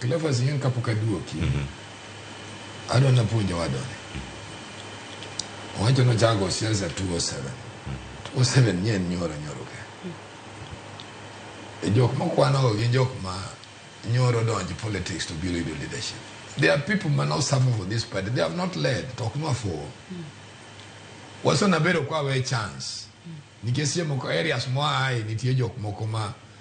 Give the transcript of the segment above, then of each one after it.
Cleophas Nyang kapok aduoki, adwa napuonjo wadoni. Owacho nochago siasa 207. 207 nye en nyoro nyoro ke. E jok mokwanogo gin jok ma nyoro donjo politics to biro yudo leadership. There are people ma no suffer for this party. They have not led. To ok nwafuwo. Waso nabedo kwawe chance. Nikech sie moko areas moaye nitie jok moko ma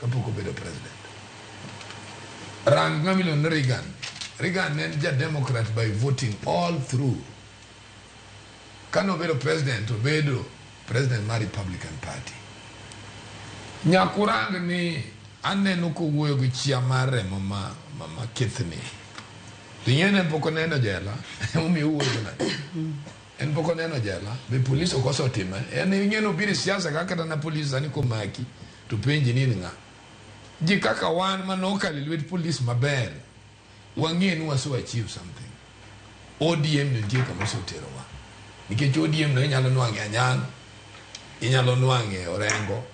kapok obedo president. Rang ng'ama iluongo ni Reagan. Reagan ne en ja Democrat by voting all through. Kane obedo president, obedo president mar Republican Party. Nyaka urang ni aneno kowuoyo gi chia mar remo ma, ma, ma kithni. Ring'e ne pok oneno jela, emomiyo owuoyo nade? En pok oneno jela, be polis ok osetime? En ing'e nobiro e siasa kaka kata na polis sani komaki. To penji ni in ng'a? Ji kaka wan ma nokalo e lwet police maber, wang'e ni wase achieve something. ODM ni nitie kama oseterowa. Nikech ODM no inyalo nwang'e Anyang', inyalo nwang'e Orengo,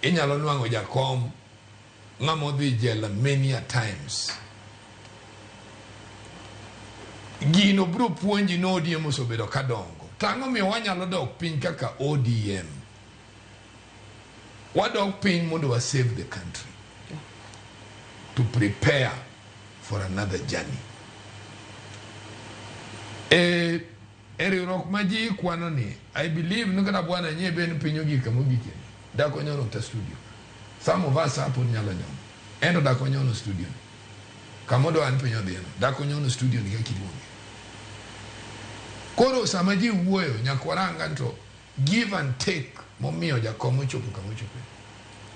inyalo nwang'o Jakom, ng'ama odhi jela many a times. Gino biro puonji ni ODM osebedo ka dongo. To ang'o miyo wanyalo dok piny kaka ODM? wadog piny mondo wa save the country to prepare for another journey e e riwruok ma ji kwano ni i believe ni kata bwana nye ben piny ogika mogike dako nyono ta studio some of us hapo nyalo nyono endo dako nyono studio kama do an piny odhino dako nyono studio ni kaka iluonge koro sama ji wuoyo nyaka warang to Give and take momiyo jakom ochopo kama ochope.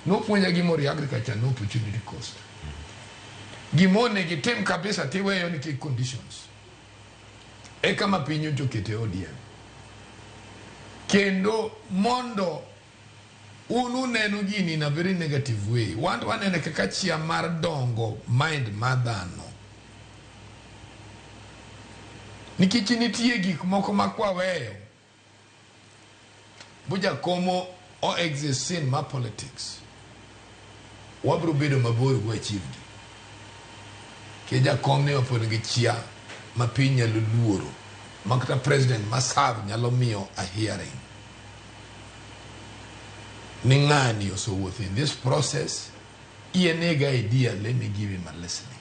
Nopuonja gima orie agriculture no opportunity cost. Gima onego itim kabisa tiweyo nikech conditions. E kama piny nyocha okete ODM. Kendo mondo un uneno gini in a very negative way. Wan to wanene kaka chia mar dongo mind mar dhano. Nikech nitie gik moko ma kwaweyo Bujakomo o exist sin ma politics. Wabro bedo mabor gi wachivgi. Ke jakom ni opod gi chia ma piny nyalo luoro. Makta president ma serve nyalo miyo a hearing. Ni ng'ani osowuotho in this process. Iye nega idea let me give him a listening.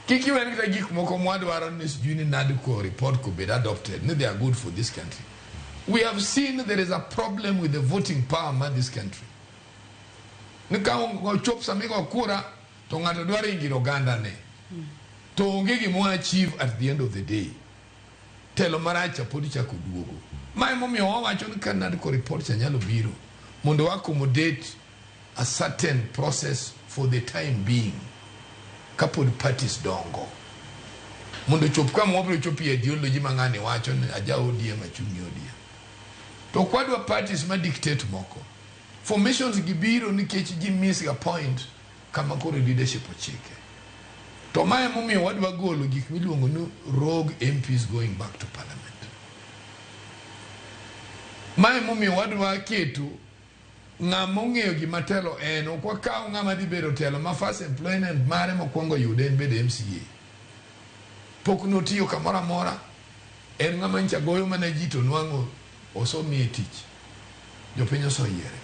Kik iwene kata gik moko mwadwaro ni sijui ni nadi ko report ko bed adopted ni they are good for this country. We have seen there is a problem with the voting power ma this country. Ni ka ochop sami go kura to ng'ato dwaro ingiro ganda ne. To onge gimo achieve at the end of the day. Telo maracha podi chako duogo. Mae momiyo wawacho ni ka nadi ko report cha nyalo biro mondo accommodate a certain process for the time being kapod parties dongo mondo ochop kama wabiro chopie ideology ma ng'ani wacho ni aja ODM achung' e ODM to kwadwa parties ma dictate moko formations gi biro nikech ji miss ga point kama koro leadership ochike to mae momiyo wadwa golo gik miluongo ni rogue MPs going back to parliament mae momiyo wadwa keto ng'a mong'eyo gima telo en, ok wakaw ng'ama dhi bedo telo ma first employment mare mokwongo yude en bedo MCA. Pok notiyo kamoro amora, en ng'ama ncha goyo mana ji to nwang'o osomiye tich. Jopiny osoyiere.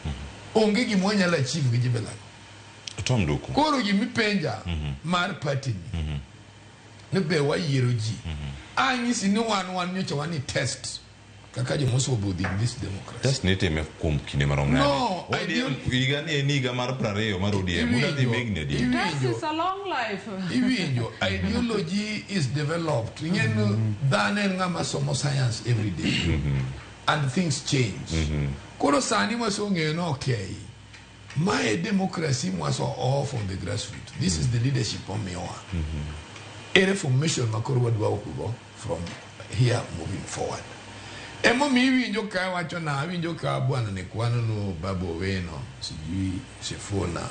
Onge gima wanyalo achieve gi jibelani. Tom Duku. Koro gima ipenja mar party ni, ni be wayiero ji. Anyisi ni wan wan nyocha wan ni test. kaka joma osobudhi in this democracy just nitime kuom kinde marom nade No, I ODM don't- higa ni en higa mar prariyo mar ODM una dhi Iwinjo. migni adi Iwinjo. That is a long life. iwinjo ideology is developed ing'en dhano en ng'ama somo science every day and things change koro sani mwasong'eyo ni okay ma e democracy mwaso all from the grassroots this is the leadership omiyowa e reformation ma koro wadwa okugo from here moving forward. Emomi iwinjo ka wacho na awinjo ka bwana ni kwano no babu Owino sijui Sifuna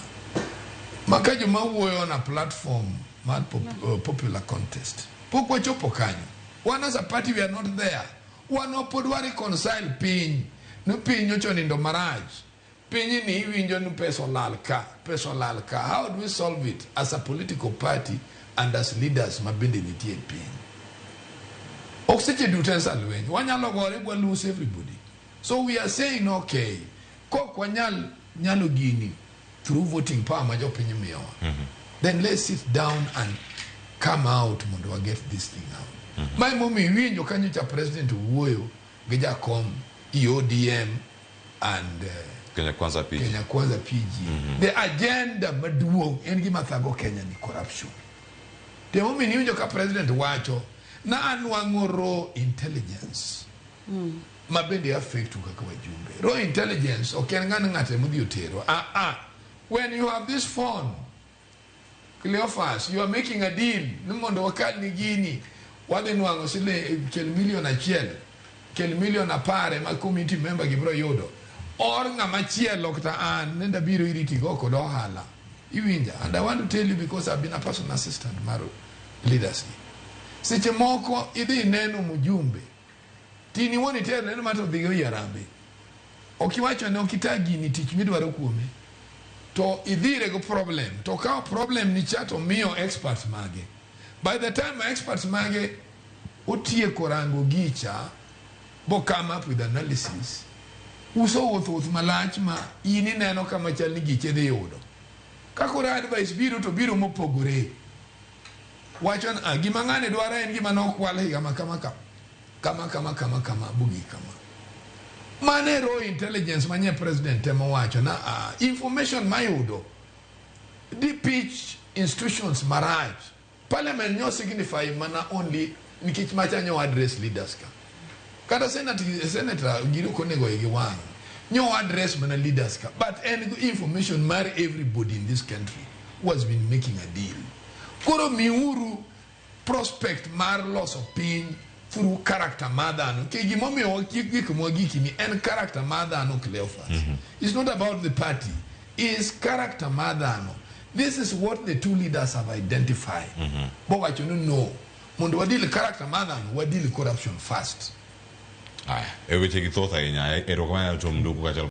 maka joma wuoyo na platform mar pop, uh, popular contest pok wachopo kanyo wan as a party we are not there wan wapod wa reconcile piny no piny nyocha onindo marach Pinyni iwinjo ni pesa olal ka, pesa olal ka. How do we solve it as a political party and as leaders ma bende nitie e piny? Ok seche duto en sa lweny. Wanyalo gore bwa lose everybody. So we are saying okay, kok wanyal nyalo gini through voting power ma jopiny miyowa. Then let's sit down and come out mondo wa get this thing out. Ma emomiyo iwinjo kanyo cha president wuoyo gi jakom i ODM and uh, Kenya Kwanza PG. Kenya Kwanza PG. Mm -hmm. The agenda maduong' en gima thago Kenya ni corruption. Temo mi niwinjo ka president wacho na anwang'o raw intelligence. Mm. Ma bende affect u kaka wajumbe. Raw intelligence ok en ng'ano ng'ate modhi otero. Ah ah. When you have this phone Cleophas, you are making a deal ni mondo wakal ni gini wadhi nwang'o siling kel milion achiel kel milion apar ema community member gibiro yudo or ng'ama chielo kata an nenda biro iri tigo kod ohala iwinja and i want to tell you because i've been a personal assistant mar leadership seche moko idhi ineno mjumbe Tini wuon itero neno ma to dhiga oyi arambe. Ok iwacho ne ok ita gini tich midwaro kuome. To idhire go problem. To kao problem ni cha to miyo experts mage. By the time ma experts mage otieko rango gicha bo come up with analysis. Uso wuoth wuoth malach ma in ineno kama chal ni giche dhi yudo. Kakoro advice biro to biro mopogore. Wacho ni, ah, gima ng'ane dwaro en gima nokwal higa ma kama kama. Kama kama kama kama bugi kama. Mane raw intelligence manye president temo wacho na ah, information mayudo di pitch institutions marach. Parliament nyo signify mana only Nikech macha nyo address leaders ka. Kata senate, senator gino konego igi wang. Nyo address mana leaders ka. But en information mar everybody in this country who has been making a deal. Koro miuru prospect mar loso piny through character mar dhano ke gimomiyo wakiek gik mwagiki ni en character mar dhano Cleophas mm -hmm. it's not about the party is character mar dhano this is what the two leaders have identified mm -hmm. bowacho ni no mondo wadil character mar ng'ano wadil corruption first Haya, e wechegi thoth ahinya. Erokamano Tom Nduku kaachiel